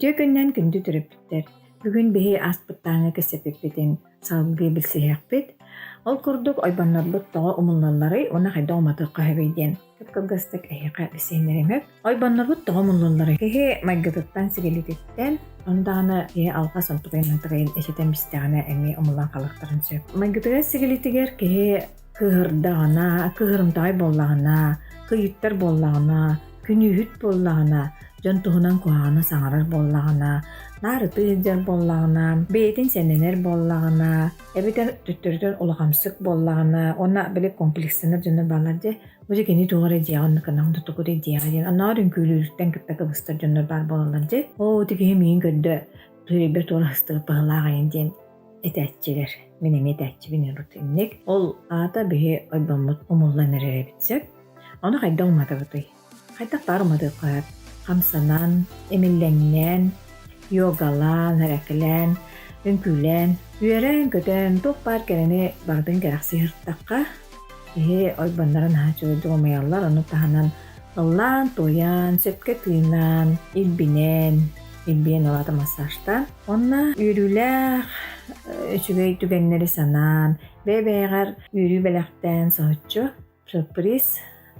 Үтүө күннэн күндү төрөппүттэр! Бүгүн биһи ааспыттааҥҥа кэпсэппиппитин салгыы билсиһиэхпит. Ол курдук ойбоннорбут тоҕо умуллалларый уонна хайдах уматыахха сөбүй диэн. кылгастык эһиэхэ сиэннэримэр ойбоннорбут тоҕо муннулларый киһи майгытыттан сигилититтэн ондаҕына киһи алҕас онтукайын-мантукайын эчэтэн бистэҕинэ эмиэ умулан хаалыахтарын сөп майгытыгар сигилитигэр киһи кыыһырдаҕына кыыһырымтаҕай буоллаҕына кыйыттар буоллаҕына күнүүһүт буоллаҕына дьон туһунан куһаҕана саҥарар буоллаҕына наар ытыы сылдьар буоллаҕына бэйэтин сэнэнэр буоллаҕына эбэтэр төттөрүтүн улахамсык буоллаҕына уонна били комплекстанар дьоно баалар дьэ бу дьэ кини туох эрэ дьиэҕэ онно кынаҕын да токудай дьиэҕэ диэн оноор үҥкүүлүүрүттэн кытта кыбыстар дьоннор баар буолаллар дьэ оо ити киһи миигин көрдө төлөйбөр туора астыыр быһылаах айан диэн этээччилэр мин эмиэ этээччибин ырбыт инник ол аата биһи ойбоммут умуллан эрэр эбит сөп ону хайдах уматабытый Хайдах баар уматыктаат, хамсанан, имиллэҥнээн, йогалаан, эрэкилээн, үҥкүүлээн, үөрэн-көтөн туох баар кэрэни барытын кэрэхсии сырыттахха, киһи ойбоннорун аһа чуойдук умуйаллар, ону таһынан ыллаан-туойан, сөпкө тыынаан, илбинэн, илбийэн ылаата массажтаан, уонна үөрүүлээх үчүгэй түгэннэри санаан, бэйэ-бэйэҕэр үөрүү бэлэхтээн соһуччу Сюрприз.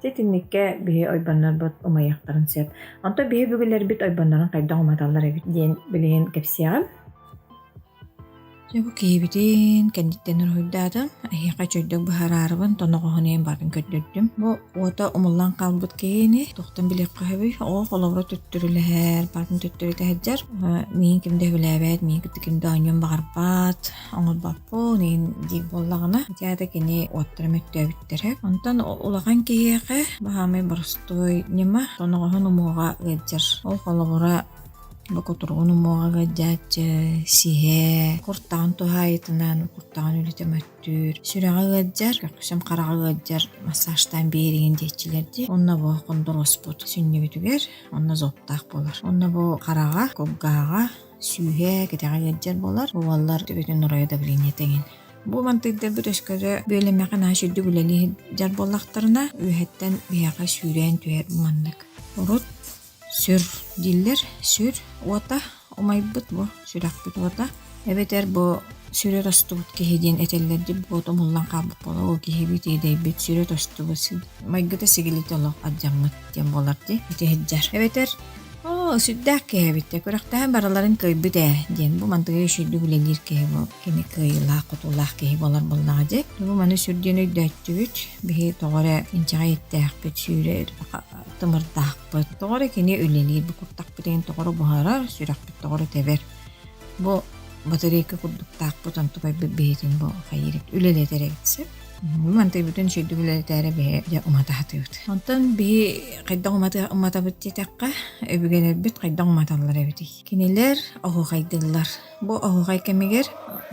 Ити итинниккэ биһи ойбоннорбут умайыахтарын сөп. Онтон биһи бүгүлэрбит ойбоннорун хайдах уматаллар эбит диэн билигин кэпсиэҕим. Дьэ бу киһибитин кэнниттэн уруһуйдаатым. Эһиэхэ үчөйдүк быһаараарыбын, тоноҕоһунуйан баран көрдөрдүм. Бу уота умуллан хаалбыт киһини туохтан билиэххэ сөбүй? Оо, холобура төттөрүлэһэр, барын төттөрү тэһэрдьэр. Миин ким да сөбүлээбэт, миин кытта ким да оонньуон баҕарбат. Оҥорбоппун иһин диир буоллаҕына, театр кини уоттара мөттөөбүттэрэ. Онтон улахан киһиэхэ баһаамай боростуой ньыма тоноҕоһун умуоҕа ыалдьар. Ол холобура бокутуругун умуоҕа ыалдьааччы, сиһэ, куртаҕын туһаайытынан куртаҕын үлэтэ мөттүүр, сүрэҕэ ыалдьар, көхсүм хараҕа ыалдьар массажтаан биэриҥин диэччилэр дии. Онно бу хондуруоспут сүнньүгүтүгэр онно зоптаах болар. Онно бу хараҕа, кулгааҕа, Сүүһэ кэтэҕэ илдьэр буолар. Уоллар төбөтүн оройо давление тегин. Бу мантыйдырбыт өскөтө бүөлэмэхэ нааш үрдүк үлэлии дьар буоллахтарына, үөһэттэн биһэҕэ сүүрээн түһэр маннык. Урут сүр дииллэр, сүр уота умайбыт бу сүрэхпит уота. Эбэтэр бу сүрө тостубут киһи диэн этэллэрдик буоту муллан хаалбыт буола ол киһибит иэдэйбит сүрө тостубут майгыта сигилитэ олох адьаммыт диэн буолар ди ити иһдьэр. Эбэтэр Оо, сүрдээх киһи эбиттэр. Күрэхтэһэн бараларын кыайбыт ээ, диэн. Бу мантыга үчүйдүк үлэлиир киһи буол, кини кыайыылаах-хотуулаах киһи буолар буоллаҕа дии. Бу маны сүрдүн өйдөөччүбүт. Биһи тоҕо эрэ инчэҕэй эттээхпит, сүүрэр тымырдаахпыт. Тоҕо эрэ кини үлэлиир, бу куртахпытын тоҕо эрэ буһарар, сүрэхпит тоҕо эрэ тэбэр. Бу батарейка курдуктаахпыт, онтукайбыт биһитин бу хайыыр үлэлэтэр эбит сөп. Мантый бүтүн сүүрдүк үлэлэтээрэ биһи дьэ умата сатыыбыт. Онтон биһи хайдах умата уматабыт диэтэххэ, өбүгэлэрбит хайдах уматаллар эбитий? Кинилэр оһуохайдыыллар. Бу оһуохай кэмигэр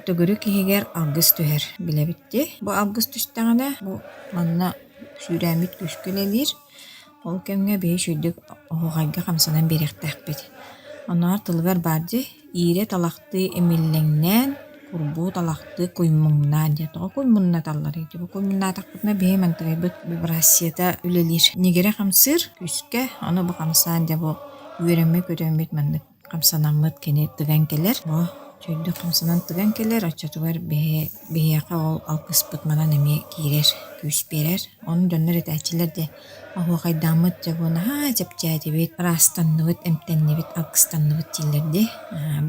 төгүрүк иһигэр алгыс түһэр билэбит дии. Бу алгыс түстэҕинэ бу манна сүүрээммит күүскэ үлэлиир. Ол кэмҥэ биһи үчүгэйдик оһуохайга хамсанан биэриэхтээхпит. Оннооҕор тылыгар баар дии иирэ талахтыы имиллэҥнээн, курбуу талахтыы куймуҥнаан диэн. Тоҕо куймуннаталларый? Дьэ бу куймуннатахпытына биһи мантырайбыт вибрацията үлэлиир. Ньигирэ хамсыыр күүскэ, ону бу хамсаан дьэ бу үөрэммит-көтүммүт маннык хамсанаммыт кини тыган кэлэр бу чөйдөх хамсанан тыган кэлэр оччотугар биһи биһиэхэ ол алгыспыт манан эмиэ киирэр күүс биэрэр онон дьоннор этээччилэр дьэ оһуохайдааммыт дьэ буо наһаа чэпчээтибит ыраастанныбыт эмтэннибит алгыстанныбыт дииллэр дии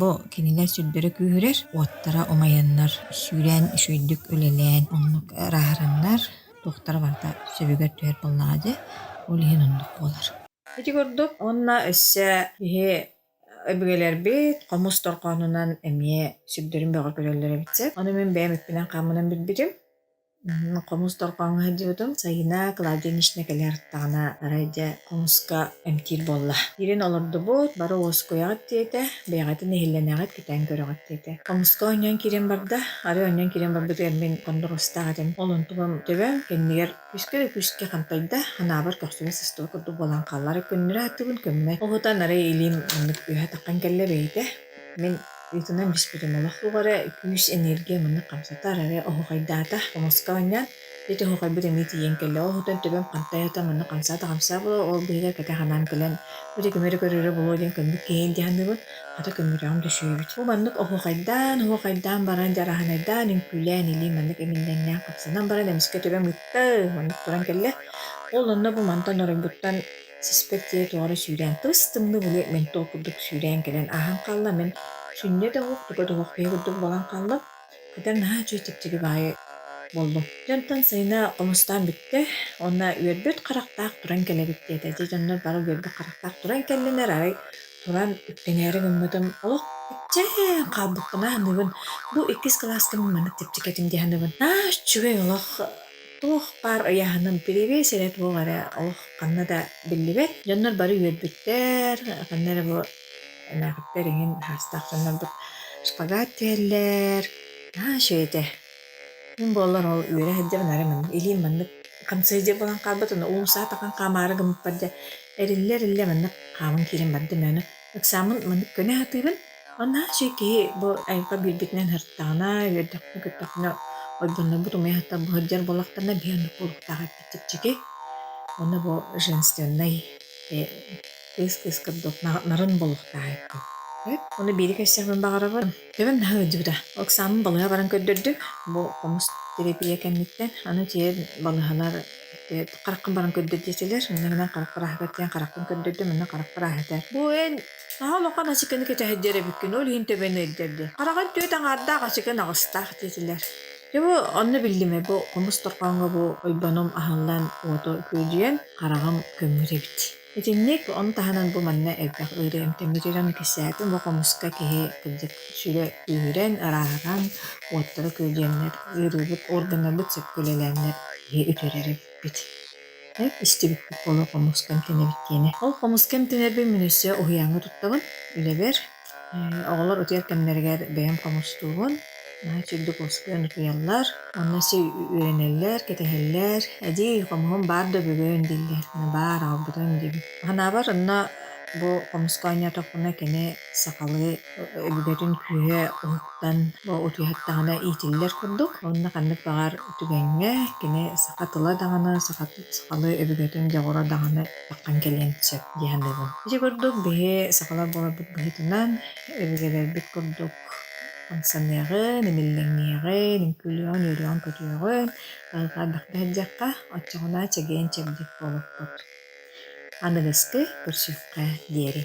бу кинилэр сүрдэрэ күүһүрэр уоттара умайаннар сүүрээн үчүгэйдик үлэлээн оннук ырааһыраннар туохтара барыта сөбүгэр түһэр буоллаҕа дьэ ол иһин оннук буолар Ити курдук уонна өссө киһи өбүгэлэрбит хомус дорҕоонунан эмиэ сүрдэрин бөҕө көрөллөр эбит сэ. Ону мин бэйэм эппинэн-хааммынан билбитим. Хомус дорҕооҥҥо сылдьыбытым. Сайына Клавдия Нищина кэлэ артаҕына арай дьэ хомуска эмтиир буолла. Киирэн олордубут, бары уоскуйаҕыт диэтэ, бэйэҕитин иһиллэнэҕит, кэтээн көрөҕүт диэтэ. Хомуска оонньоон киирэн барда. Арай оонньоон киирэн барбытыгар мин кондросстээх этим. Ол онтубам төбөм, кэннигэр Үскэ үкүскэ хантайда, анаабар көхсүнэ сыстыба курдук буолан хааллара көннөрө ааттыбын көммөй. Уһутан арай илиим маннык үөһэ таххан кэллэ бэйитэ. Мин ыытынан биспитим олох лугара үкүүс энергия маннык хамсатар эрэ оһухайдаата хомуска оонньоон ити оһухайбыт эмиэ тиийэн кэллэ ол оһутан төбөм хантай ата маннык хамсаата хамсаа була ол быһыгар кэтэх анаан кэлэн бу ити көмөрө көрөрө буолуо диэн көннүк киһи илдьэ саныыбын Ата көмүрөҕүм түсүөбүт. Бу маннык оһуохайдаан, оһуохайдаан баран, дьараһанайдаан, үҥкүүлээн илии маннык имиллэҥнээх хапсанан баран, эмискэ төбөм ыытта, маннык туран кэллэ. Ол онно бу мантан оройбуттан сиспэт дьиэ туора сүүрээн, тыс-тымныы були ментол курдук сүүрээн кэлэн ааһан хаалла. Мин сүнньэ да оһук, туга да оһуох киһи курдук буолан хааллым. Кэтэр наһаа үчүгэй чэпчэки баайы буоллум. Дьэ онтон сайына оҥостоон бүттэ. Уонна үөрбүт харахтаах туран кэлэбит диэтэ. Дьэ дьоннор бары үөрбүт харахтаах туран кэллилэр. Арай туран үктэнээри гыммытым, олох иччээн хаалбыккына аныгын бу иккис кылаастым маннык чэпчэки этим дии аныгын. Аа үчүгэй олох туох баар ыйааһыным кириэбиэс эрэ туох эрэ олох ханна да биллибэт. Дьоннор бары үөрбүттэр. Ханна эрэ бу Элээхиттэр эҥин аһаастаах гыннарбыт. Шпагат түһэллэр. Наһаа үчүгэй этэ. Мин буоллар ол үөрэ сылдьабын арай манна илиим маннык хамсыйдьа буолан хаалбыт аны уулуссаҕа тахан хаамаары гыммыппар дьэ эриллэ эриллэ маннык хааман киирэн бардым өөну ыксааммын маннык көнө сатыырым онно үчүгэй киһи бу айылҕа биэрбитинэн сырыттаҕына үөрдэххинэ көттөххүнэ ойбоннорбут умуйа сытар бу сылдьар буоллахтарына биһи оннук буолуохтаах эбит чэпчэки онно бу женственнай кыыс-кыыска дук нарын болуохтаахайкын. Ону биири кэссэҕинэн баҕарабын. Бүгүн наһаа ыалдьыбыта. Оксаамын балыыһа баран көрдөрдүк. Бу хомус тирэпиийэ кэнниттэн аны дьиэ балыыһалар хараххын баран көрдөр диэтилэр. Мин гынан харах кырааһыгар диэн харахпын көрдөрдүм, мин харах кырааһыта. Бу эн наһаа улахан ачыкыны кэтэһэрдэр эбиккин, ол иһин төбөнү өйдөрдү. Хараҕын түөрт аҥаардаах ачыкын аҕыстаах диэтилэр. Дьэ бу онно биллимэ бу хомус торхооҥҥо бу ойбонум аһыллан уоту күөдьүйэн хараҕым көмүр эбит. Итинник, ону таһынан бу манна элбэх ыарыы эмтэммит дьон кистээтин бу хомуска киһи, кырдьык, сүрэ күүһүрэн, арааһыран, уоттара күөлүйэннэр, ыарыыбыт органнарбыт сөпкө үлэлээннэр киһи үтэрэр эбиппит. Истибиппит буолуо хомуска эмтэнэбит диэни. Ол хомуска эмтэнэрбин мин өссө уһуйааҥҥа туттабын, үлэбэр. Оҕолор утуйар кэмнэригэр бэйэм хомустуубун, наһаа үчүгэйдик уоскуйан утуйаллар. Онно сир үөрэнэллэр, кэтэһэллэр. Эдьиий, хомуһум баар да бүгүн дииллэр. Мэ баар, аалбытым диибин. Санаабар онно бу хомуска оонньоотохпуна кини сахалыы өбүгэтин күүһэ уһуктан бу утуйуһаттаҕына иитиллэр курдук. Онно ханнык баҕар түгэҥҥэ кини саха тыла даҕаны, саха сахалыы өбүгэтин дьоҕура даҕаны Таххан кэлиэн сөп дии саныыбын. Ити курдук биһи сахалар буоларбыт быһыытынан өбүгэлэрбит курдук хамсаныаҕын, имиллэҥниэҕин, үҥкүүлүөҕүн-үөрүөҕүн-көтүөҕүн, хайҕаардахха иһэрдиэххэ, оччоҕуна чэгиэн-чэбдик буолуохпут. Аныгыскы көрсүөххэ диэри.